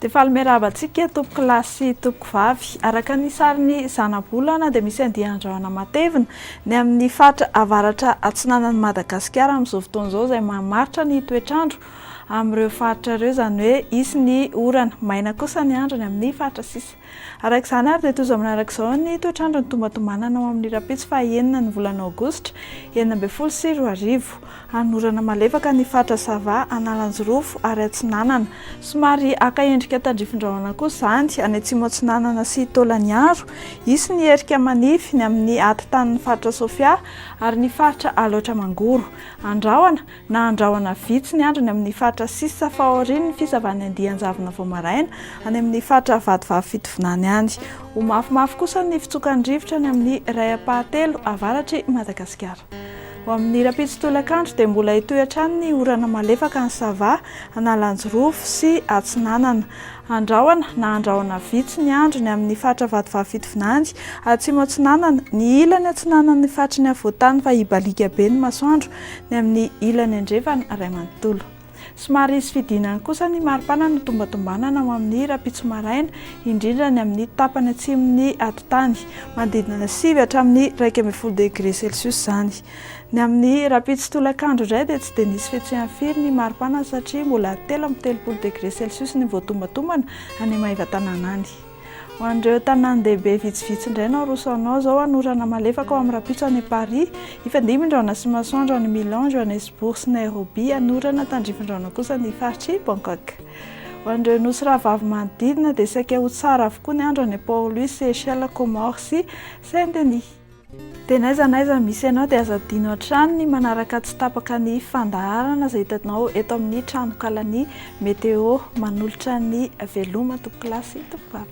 Dia faly miarahaba antsika tompoko lahy sy tompoko vavy. Araka ny sarin'ny zanabolana dia misy andian-drahona matevina ny amin'ny faritra avaratra atsinanan'i Madagasikara amin'izao fotoana izao izay mamaritra ny toetr'andro amin'ireo faritra ireo, izany hoe hisy ny orana. Maina kosa ny andro ny amin'ny faritra sisa. Araka izany ary dia tojo manaraka izao ny toetr'andro nitombatombanana ho amin'ny rahampitso faha enina ny volana aogositra enina ambin'ny folo sy roa arivo. Hanorana malefaka ny faritra Sava, Analanjirofo ary Atsinanana. Somary haka endrika tandrifin-drahona kosa izany any Atsimo Atsinanana sy Taolagnaro. Hisy ny erika manify ny amin'ny ati-tanin'ny faritra Sofia ary ny faritra Alaotra Mangoro. Andrahona. na handrahona vitsy ny andriny amin' ny faritra sisa fahaorian' ny fisavan' ny andian-javona vao maraina any amin' ny faritra vadivavy fitovinany any. Ho mafimafy kosa ny fitsokan' ny rivotra any amin' ny iray ampahatelo avaratr' i Madagasikara. Ho amin' ny rahampitso tolakandro dia mbola hitohy hatrany ny orana malefaka any Sava, Analanjirofo sy Atsinanana. Handrahona na handrahona vitsy ny andriny amin' ny faritra vadivavy fitovinany atsimo atsinanana ny ilany atsinanan' ny faritry ny afovoan-tany fa hibaliaka be ny masoandro ny amin'ny ilany andrefana iray manontolo. Somary hisy fidinany kosa ny maripana notombatombanana ho amin'ny rahampitso maraina, indrindra ny amin'ny tapany atsimon'ny atitany, manodidina sivy hatramin'ny iraika ambin'ny folo degre celsius izany. Ny amin'ny rahampitso tolakandro indray dia tsy dia nisy fihetsehany firy ny maripana satria mbola telo amby telopolo degre celsius ny voatombatombana any Maevatanàna any. Ho an'ireo tanàn-dehibe vitsivitsy indray no aroso anao izao an, orana malefaka ao amin'ny rahampitso any Paris, hifandimby-drahona sy masoandro any Milan, Johannesburg sy Nairobi, any orana tandrifin-drahona kosa ny faritr'i Bangkok. Ho an'ireo nosy rahavavy manodidina dia saika ho tsara avokoa ny andro any Port-Louis, Seychelles, Comores sy Saint-Denis. Dia n'aiza n'aiza misy anao dia aza adino hatrany ny manaraka tsy tapaka ny fandaharana izay hitanao eto amin'ny tranonkalan'ny Météo manolotra ny Veloma tompokolahy sy tompokaly.